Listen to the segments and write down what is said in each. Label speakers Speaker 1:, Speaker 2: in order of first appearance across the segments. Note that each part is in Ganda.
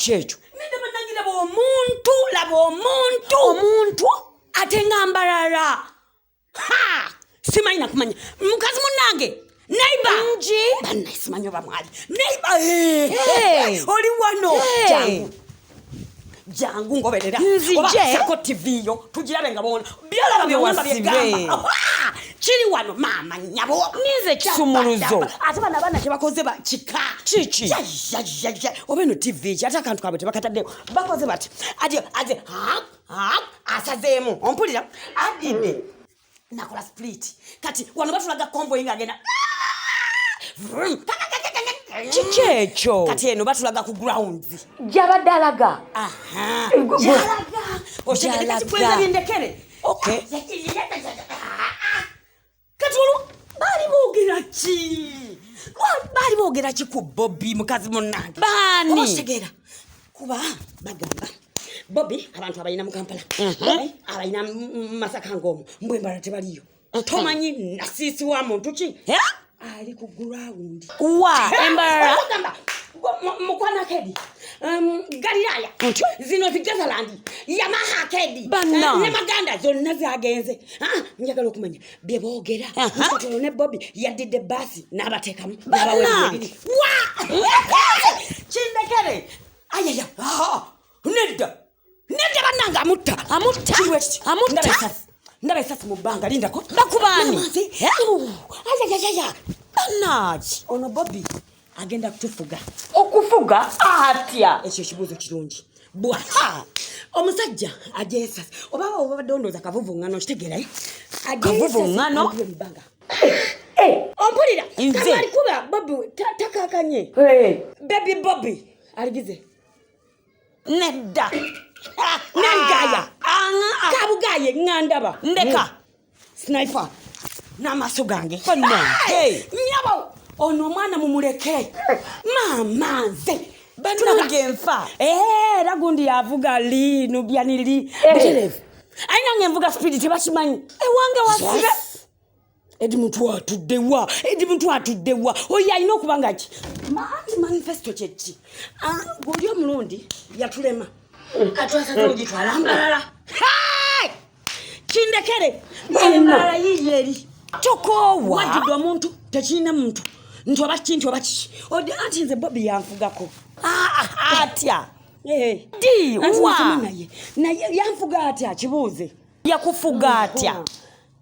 Speaker 1: kyekyo
Speaker 2: nende banange laba
Speaker 1: omuntu laba omuntu omuntu ate nga mbarara simanyi nakumanya mukazi munange neiba nji banaisimanya
Speaker 2: oba
Speaker 1: mwali neiba oli wano jangu jangu ngoberera obasako
Speaker 2: tv yo
Speaker 1: tugirabe nga bona byalaba byewamba byegamba kiri wano maama nyabo ninze kisumuluzo
Speaker 2: ate bana bana
Speaker 1: kyebakoze kika kiki oba eno tv ki ate akantu kabwe tebakataddeko bakoze bati ati ati asazeemu ompulira adidde nakola split kati wano batulaga convoy nga agenda
Speaker 2: kiki ekyo kati eno batulaga
Speaker 1: ku ground gyabadde alaga okyekekekikwenzabyendekere okay kati olwo baali boogera ki baali boogera ki ku bobi mukazi munange baani otegera kuba bagamba bobi abantu abalina mu kampala bobi abalina masaka ngaomu mbwembala tebaliyo tomanyi nasiisi wa muntu ki ali ku gurawundi wa
Speaker 2: embalala
Speaker 1: mukwana kedi um, galilaya zino zigezalandi yamaha kedi ne maganda zonna zagenze ah, njagala okumanya bye boogera mukatolo ne bobi yaddidde baasi n'abateekamu
Speaker 2: n'abaweebiri
Speaker 1: kindekere ayaya nedda nedda bannange amutta amutta amutta ndaba esasi mu bbanga lindako bakubaani ayayayaya bannange ono bobi agenda kutufuga okufuga
Speaker 2: atya ekyo ekibuuzo kirungi
Speaker 1: bwaha omusajja ajesas oba obadde ondooza kavuvuŋŋano kitegeerayo kavuvuŋŋano
Speaker 2: eh!
Speaker 1: ompulira alikuba
Speaker 2: bobi
Speaker 1: takakanye bebi bobi aligize nedda nengaya kabugaye ngandaba ndeka
Speaker 2: sniper
Speaker 1: n'amaaso gange nyabo
Speaker 2: ono omwana
Speaker 1: mumuleke maama nze banange nfa
Speaker 2: era eh, gundi
Speaker 1: yavuga li nubyani li eh. buterevu ayi nange nvuga sipidi tebakimanyi ewange wasibe
Speaker 2: edi
Speaker 1: muntu atuddewa edi muntu atuddewa oyo alina okuba nga ki maati manifesito kyekki ah, gweoli omulundi yatulema katwasaogitwalambalala kindekere embalala yiiyo eri tokoowa
Speaker 2: wajjudde omuntu
Speaker 1: tekirina muntu nti oba kiki nti oba kiki odi anti nze bobi yanfugako ah, ah, atya di wa naye yanfuga atya kibuuze yakufuga
Speaker 2: atya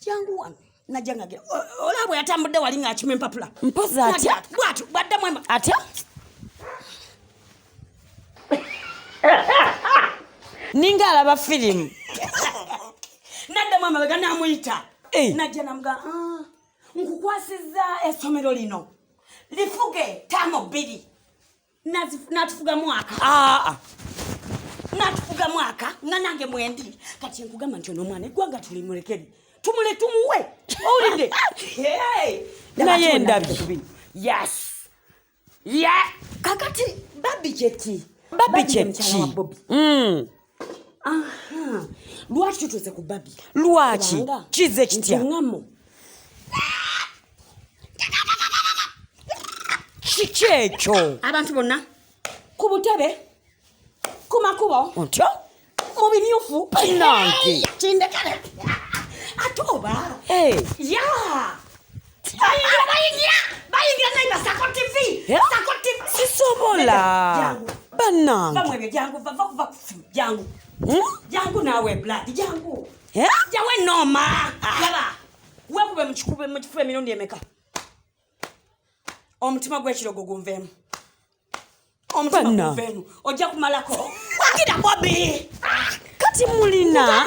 Speaker 1: jangu wano najja ngagira olaba bwe yatambudde wali ng'akima empapula mpozi atya
Speaker 2: bwatu bwaddamu
Speaker 1: atya
Speaker 2: ninga alaba firimu
Speaker 1: naddamu amabega namuyita eh. najja namuga ah, nkukwasizza essomero lino lifuge taamu bbiri natufuga mwaka ah, ah. natufuga mwaka nga nange mwendi kati enkugamba nti onomwana egwanga tulimulekeri tumule tumuwe owulidde
Speaker 2: naye ndabi yes ye
Speaker 1: kakati babi kyeki babi kyeki lwaki tutuuse ku babi lwaki
Speaker 2: kize kitya kiki ekyo abantu bonna
Speaker 1: ku butebe ku makubo otyo
Speaker 2: mu bimyufu
Speaker 1: nange
Speaker 2: kindekere
Speaker 1: ate oba ya sisobola
Speaker 2: banange
Speaker 1: jangu nawe blood jangu jawe noma yaba wekube mukikube mukifube emirundi emeka omutima gwekirogo gunvemu omutima gunvemu ojja kumalako
Speaker 2: wagira
Speaker 1: bobi kati
Speaker 2: mulina